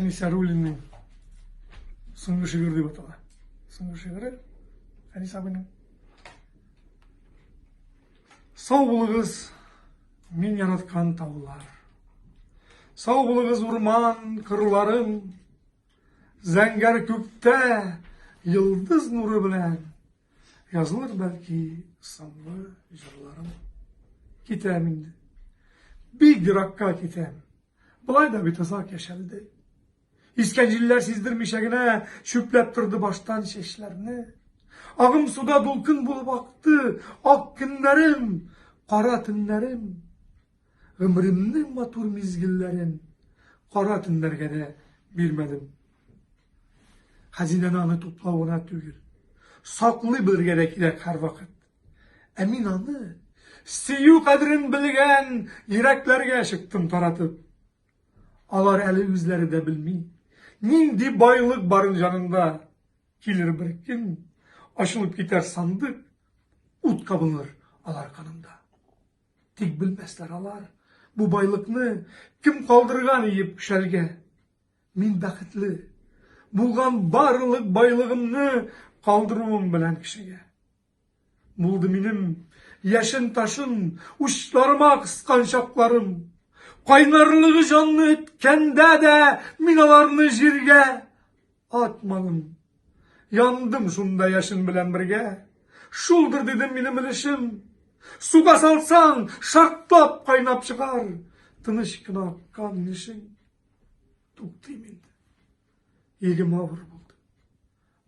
Әнисә Рулинның соңгы шигырь дип атала. Соңгы шигыре Әнис абыйның. Сау булыгыз, мин яраткан таулар. Сау булыгыз урман кырларым. Зәңгәр күктә йолдыз нуры белән Язылыр бәлки сынлы җырларым. Китәм инде. Бик еракка китәм. Болай да бит озак яшәлде. Искән җилләр сиздермичә генә чүпләп торды баштан чәчләрне. Агым суда дулкын булып акты, ак көннәрем, кара төннәрем. Гомеремнең матур мизгелләрен кара төннәргә дә бирмәдем. Хәзинәне аны туплау гына түгел, саклый белергә дә кирәк һәрвакыт. Ә мин аны сөю кадерен белгән йөрәкләргә чыктым таратып. Алар әле үзләре дә белми, нинди байлык барын җанында. Килер бер көн, ачылып китәр сандык, ут кабыныр алар канында. Тик белмәсләр алар, бу байлыкны кем калдырган иеп шәлгә. Мин бәхетле, булган барлык байлыгымны калдыруым белән кешегә. Булды минем яшен ташын, учларыма кыскан чакларым. Кайнарлыгы җанны эткәндә дә мин аларны җиргә атмадым. Яндым шунда яшен белән бергә. Шулдыр дидем минем өлешем. Суга салсаң, шартлап кайнап чыгар. Тыныч кына аккан яшен. Туктыйм инде. Егем авыр булды.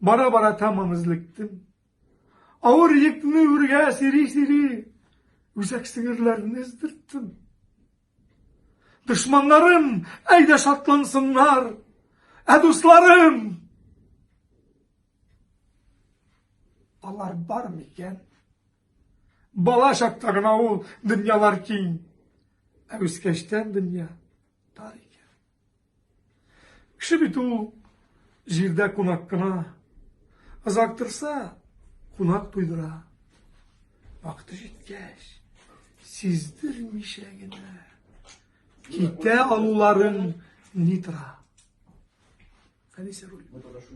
Бара-бара тәмам эзлектем. Авыр йөкне үргә сири-сири, үзәк сеңерләрне эздерттем. Дошманнарым, әйдә шатлансыннар! Ә дусларым! Алар бар микән? Бала чакта гына ул дөньялар киң. Ә үскәчтән дөнья тар икән. Кеше бит ул җирдә кунак кына. Озактырса, кунак туйдыра. Вакыты җиткәч, сиздермичә генә китә алуларын ни тора. Әнисә руль.